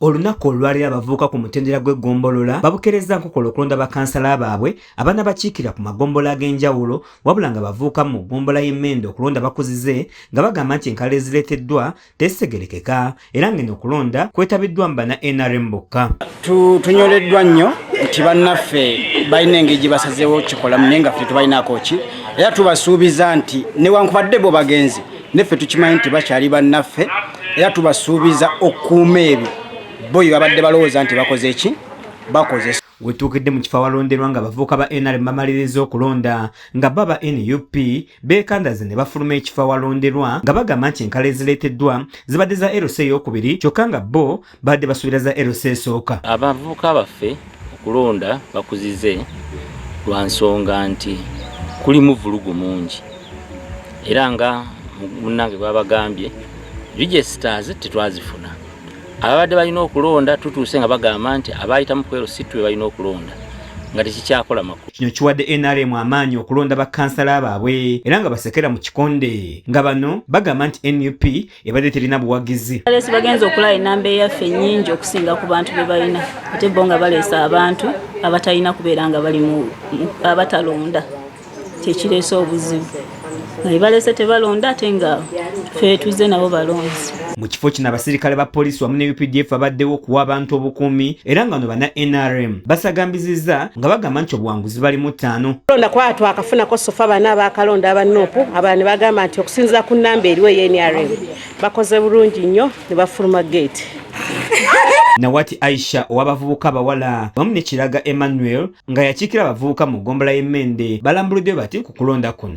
Olunaku olwalero abavubuka ku mutendera gw'eggombolola babukerezza nkokola okulonda bakansala baabwe abanabakiikirira ku magombolola ag'enjawulo wabula nga abavubuka mu ggombolola y'e Mende okulonda bakuzize nga bagamba nti enkalala ezireeteddwa tezitegerekeka era ng'eno okulonda kwetabiddwamu bana nrm bokka. Tunyoleddwa nnyo nti bannaffe balina engeri gye basazeewo kukikolamu naye nga ffe tetubalinaako ki era tubasuubiza nti newankubadde bo bagenze neffe tukimanyi nti bakyali bannaffe era tubasuubiza okukuuma ebyo bo bye babadde balowooza nti bakoze ki bakozesa wetuukidde mu kifo awalonderwa nga abavubuka ba nrm bamaliriza okulonda nga bo aba nup beekandaze ne bafuluma ekifo awalonderwa nga bagamba nti enkala ezireeteddwa zibadde za erosi eyokubiri kyokka nga bo badde basuubira za LC esooka. Abavubuka baffe okulonda bakuzize lwa nsonga nti kulimu vulugu mungi era nga munnange bwabagambye registers tetwazifuna ababadde balina okulonda tutuuse nga bagamba nti abaayitamu kwero si twe balina okulonda nga tekikyakola makulu kino kiwadde nrm amaanyi okulonda bakansala baabwe era nga basekera mu kikonde nga bano bagamba nti nup ebadde terina buwagizi balesi bagenza okulaba enamba eyaffe nyingi okusinga ku bantu be balina ate bo nga baleesa abantu abatalina kubeera nga bali abatalonda kyekireese obuzibu nga ebalese tebalonda ate nga feetuze nabo balonzi mu kifo kino abasirikale ba poliisi wamu ne updf abaddewo okuwa abantu obukuumi era nga no bana nrm basagambizizza nga bagamba nti obuwanguzi zibali mu ttaano kulonda kwaa twakafunako sofa bana abakalonda aba nup abala ne bagamba nti okusinzira ku nnamba eriwo ey nrm bakoze bulungi nnyo ne bafuluma gate nawati aisha owabavubuka abawala wamu ne kiraga emmanuel nga yakiikira abavubuka mu ggombola y'emmende balambuludde bati ku kulonda kuno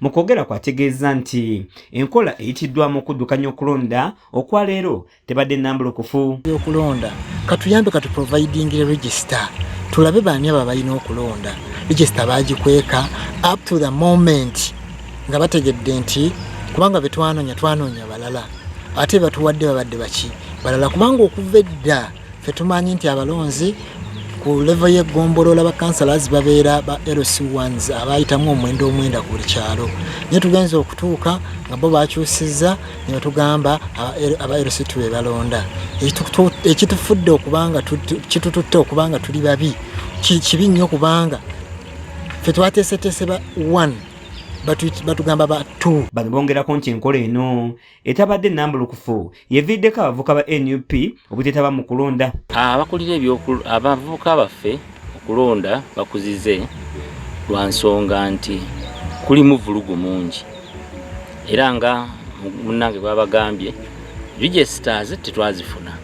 mu kwogera kwategeeza nti enkola eyitiddwamu okuddukanya okulonda okwa leero tebadde nambulukufu okulonda katuyambe kati providing register tulabe baani abo abalina okulonda register bagikweka up to the moment nga bategedde nti kubanga betwanonya twanonya balala ate batuwadde babadde baki balala kubanga okuva edda Ffe tumanyi nti abalonzi ku levo y'eggombolola bakansalas babeera ba lc ones abayitamu omwenda omwenda ku buli kyalo naye tugenza okutuuka nga bo bakyusizza nebatugamba aba lc tu be balonda ekitufudde okubanga kitututte okubanga tuli babi kibi nnyo kubanga fe twateeseteese ba one batugamba ba two bano bongerako nti enkola eno etabadde nambulukufu yeviiddeko abavuka ba nup obutetaba mu kulonda abakulira abavuka baffe okulonda bakuzize lwa nsonga nti kulimu vulugu mungi era nga munange bwabagambye registas tetwazifuna